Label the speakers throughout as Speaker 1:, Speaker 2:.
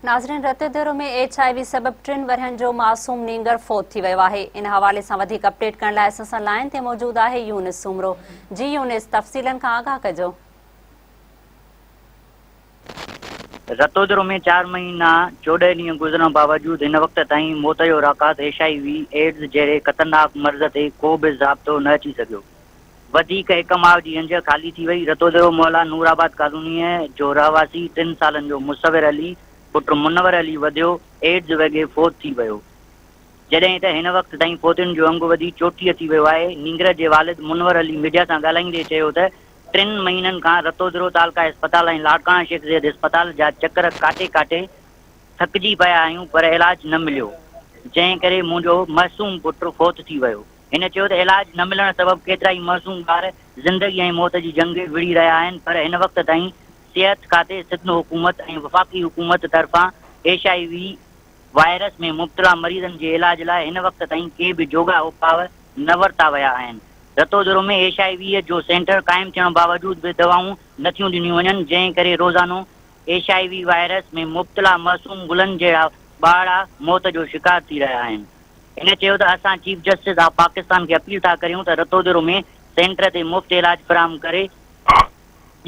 Speaker 1: ناظرين Ratodero ۾ H I V سبب ٽن ورهين جو معصوم نينگر فوت ٿي ويو آهي ان حوالي سان وڌيڪ اپڊيٽ ڪرڻ لاء اسان سان لائن تي موجود آهي يونس سومرو جي يونس تفصيلن کان آگاهه ڪجو
Speaker 2: رتودرو ۾ چار مهينا چوڏهن ڏينهن گذرڻ باوجود هن وقت تائين موت جو راڪاس ايڇ آء وي ايڊز جهڙي خطرناڪ مرض تي ڪو به ضابطو نه اچي سگهيو وڌيڪ هڪ ماء جي انجهه خالي ٿي وئي. رتودرو محلا نورآباد ڪالونيء جو رهواسي ٽن سالن جو مصور علي پٽ منور علي وڌيو ايڊز وگهي فوت ٿي ويو. جڏهن ته هن وقت تائين فوتين جو انگ وڌي چوٽيهه ٿي ويو آهي. نينگر جي والد منور علي ميڊيا سان ڳالهائيندي چيو ته ٽن مهينن کان رتودرو تعلقه اسپتال ۽ لاڙڪاڻا شيخ زيد اسپتال جا چڪر ڪاٽي ڪاٽي ٿڪجي پيا آهيون پر علاج نه مليو جنهن ڪري منهنجو معصوم پٽ فوت ٿي ويو. هن چيو ته علاج نه ملڻ سبب ڪيترائي معصوم ٻار زندگي ۽ موت جي جنگ وڙهي رهيا آهن پر هن وقت تائين صحت کاتي سڌ حڪومت ۽ وفاقي حڪومت طرفان ايڇ آء وي وائرس ۾ مبتلا مريضن جي علاج لاء هن وقت تائين ڪي به جوڳا اپاء نه ورتا ويا آهن رتودرو ۾ ايڇ آء وي جو سينٽر قائم ٿيڻ باوجود به دوائون نه ٿيون ڏنيون وڃن جنهن ڪري روزانو ايڇ آء وي وائرس ۾ مبتلا معصوم گلن جهڙا ٻارڙا موت جو شڪار ٿي رهيا آهن. هن چيو ته اسان چيف جسٽس آف پاڪستان کي اپيل ٿا ڪريون ته رتودرو ۾ سينٽر تي مفت علاج فراهم ڪري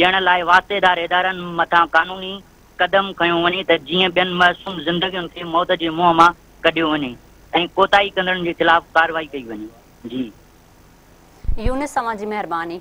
Speaker 2: ڏيڻ لاء واسطيدار ادارن مٿان قانوني قدم کنيو وڃي ته جيئن ٻين معصوم زندگين کي موت جي منهن مان ڪڍيو وڃي ۽ ڪوتاهي ڪندڙن جي خلاف ڪارروائي
Speaker 1: ڪئي وڃي. جي.
Speaker 2: يونس اوهان جي مهرباني.